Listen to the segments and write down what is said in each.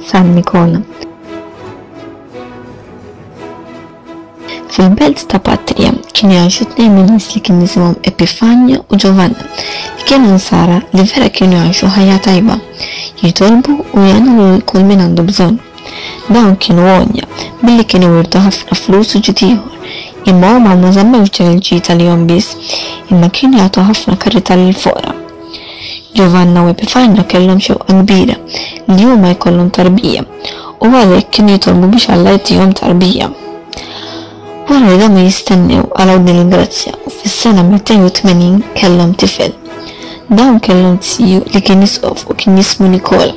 San Nikola. Fil-belt ta' Patrija kien jgħixu tnejn minn nies li kien jisimhom Epifanja u Giovanna li kienu nsara li vera kienu jgħixu ħajja tajba, jitolbu u jgħinu lil kull min għandu bżonn. Dawn kienu għonja, billi kienu wirtu ħafna flus u ġid ieħor, imma huma ma żammewx dan il-ġid għalihom biss, imma kienu jagħtu ħafna karità lill-foqra. Ġovanna u Epifanio kellhom xewqa kbira li huma jkollhom tarbija, u għalhekk kienu jitolbu biex Alla jagħtihom tarbija. Wara li domu jistennew araw din il-grazzja u fis-sena 280 kellhom tifel. Dawn kellhom ziju li kien isqof u kien jismu Nikola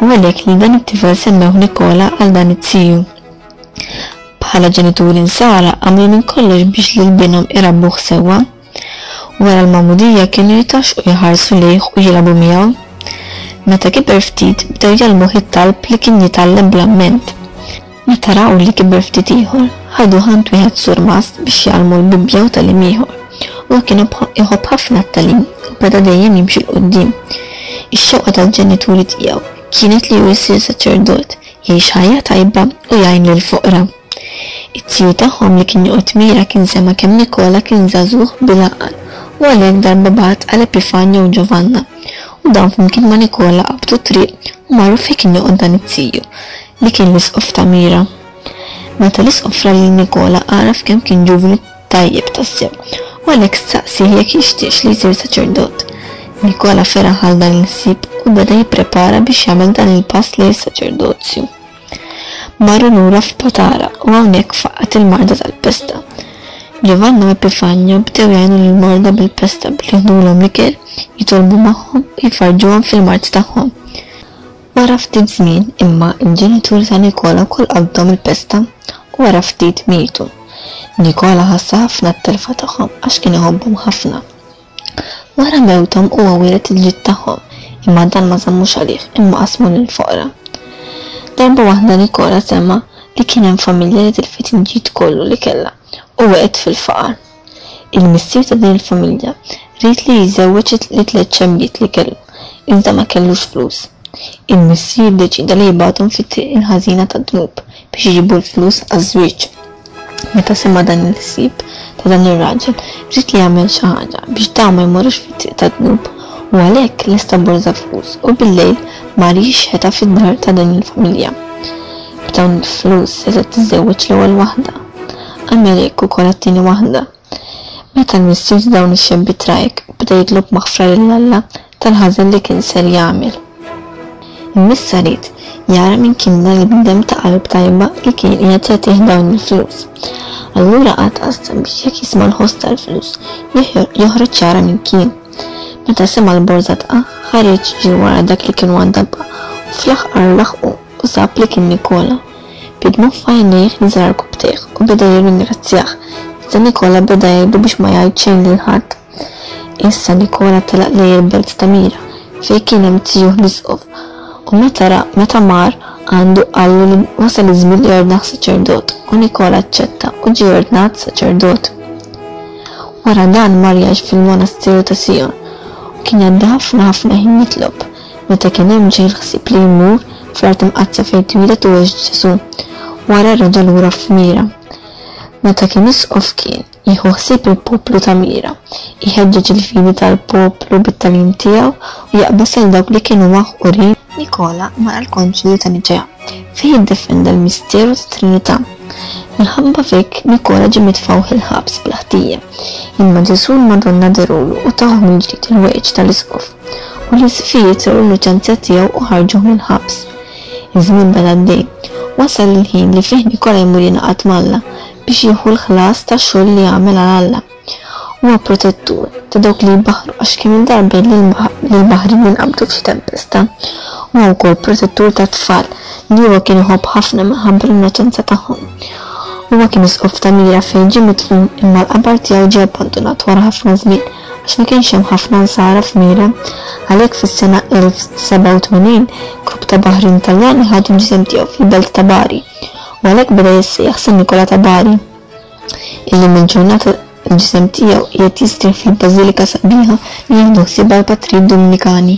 u għalhekk lil dan it-tifel semmewh Nikola għal dan iz-ziju. Bħala ġenituri nsara għamlu minn kollox biex lil binhom irabbuh sewwa. Wara l-magħmudija kienu jitgħaxxqu jħarsu lejh u jilgħabu miegħu. Meta kiber ftit bdew jgħallmuh it-talb li kien jitgħallem bl-amment. Meta raw li kiber ftit ieħor, ħaduh għand wieħed surmast biex jgħallmu l-Bibbja u tagħlim ieħor. Huwa kien iħobb ħafna t-tagħlim u beda dejjem jimxi 'l quddiem. Ix-xewqa tal-ġenituri tiegħu kienet li hu jsir saċerdot, jgħix ħajja tajba u jgħin lill-foqra. It-tjur tagħhom li kien joqgħod mira kien sema' kemm Nikola kien żagħżugħ bil-għaqal u għalhekk darba bagħat għal Epifanja u Ġovanna u dawn flimkien ma' Nikola qabdu t-triq u marru fejn kien joqgħod dan it-tiju li kien l-isqof ta' mira. Meta l-isqof ra lil Nikola għaraf kemm kien ġuvni tajjeb tassew u għalhekk staqsieh jekk jixtieqx li jsir saċerdot. Nikola feraħ għal dan il-ħsieb u beda jipprepara biex jagħmel dan il-pass lejn is-saċerdozju. Marru lura f'Patara u hawnhekk faqqgħet il-marda tal-pesta. Ġovanna u Epifanio bdew jgħinu lill-morda bil-pesta billi jieħdulhom l-ikel, jitolbu magħhom u jfarrġuhom fil-mard tagħhom. Wara ftit żmien, imma, il-ġenituri ta' Nikola wkoll qabdhom il-pesta u wara ftit mietu. Nikola ħassa ħafna t-telfa tagħhom għax kien iħobbhom ħafna. Wara mewthom huwa wielet il-ġid tagħhom, imma dan ma żammux għalih, imma qasmu lill-foqra. Darba waħda Nikola sema' li kien hemm familja li tilfet il-ġid kollu li kellha u waqgħet fil-faqar. Il-missier ta' din il-familja ried li jiżżewweġ it-tliet xembiet li kellu, iżda ma kellux flus. Il-missier ddeċieda li jibgħathom fit-triq il-ħażina tad-dnub. biex iġibu l-flus għaż-żwieġ. Meta sema' dan il-ħsieb ta' dan ir-raġel, ried li jagħmel xi ħaġa biex dawn ma jmorrux fit-triq tad-dnub u għalhekk lesta borża flus u bil-lejl mar jixħetha fid-dar ta' din il-familja. B'dawn il-flus setgħet tiżżewweġ l-ewwel waħda. Għamel hekk ukoll għat-tieni waħda. Meta l-missier ta' dawn ix-xebbi trajk beda jitlob maħfra lil Alla tal-ħażen li kien ser jagħmel. Immiss arid jara min kien dan il-bniedem ta' qalb tajba li kien qiegħed jagħtih dawn il-flus. Allura qagħad qassem biex jekk jisma' l-ħoss tal-flus joħroġ jara min kien. Meta sema' l-borża tqa' ħareġ ġie wara dak li kien waddabha u fl-aħħar laħqu u sab li kien Nikola. Bi dmugħ f'għajnejh nżarr kubbtejh u beda jirringrazzjah, iżda Nikola beda jgħidlu biex ma jgħid xejn lil ħadd. Issa Nikola telaq lejn il-belt ta' Mira, fejn kien hemm tiegħu l-isqof, u meta ra meta mar għandu qallu li wasal iż-żmien li jordnah saċerdot, u Nikola aċċetta u ġie ordnat saċerdot. Wara dan mar jgħix fil-monasteru ta' Sijon, u kien jgħaddi ħafna ħafna ħin jitlob. meta kien hemm ġej l-ħsieb li jmur fl-art imqaddsa fejn twieled u għex Ġesù, wara rada' lura f'Mira. Meta kien isqof kien jieħu ħsieb il-poplu ta' Mira, iħeġġeġ il-fidi tal-poplu bit-tagħlim tiegħu u jaqbeż lil dawk li kienu maħqurin. Nikola mar għall-Konċilju ta' Niċea fejn iddefenda l-misteru tat-Trinità. Minħabba f'hekk Nikola ġie mitfugħ il-ħabs bla ħtija. Imma Ġesù u l-Madonna dherulu u tawh mill-ġdid il-weġġ tal-isqof. u li Sofia trawwel l-innoċenza tiegħu u ħarġuh mill-ħabs. Iż-żmien beda għaddej. Wasal il-ħin li fih Nikola jmur jingħaqad m'Alla biex jieħu l-ħlas tax-xogħol li għamel għal Alla. Huwa protettur ta' dawk li jbaħħru għax kemm-il darba l-baħrin jinqabdu f'xi tempesta. Huwa wkoll protettur tat-tfal li huwa kien iħobb ħafna minħabba l-innoċenza tagħhom. Huwa kien isqof ta' Mira fejn ġie midfun imma l-qabar tiegħu ġie abbandunat wara ħafna żmien. għax ma kienx hemm ħafna nsara f'Mira. Għalhekk fis-sena 1087, grupp ta' baħrin Taljani ħadu l-ġisem tiegħu fil-belt ta' Bari, u għalhekk beda jissejjaħ San Nikola ta' Bari. Illum il-ġurnata l-ġisem tiegħu qiegħed jistrieħ fil-bażilika sabiħa li jieħdu ħsiebha l-patri Dominikani.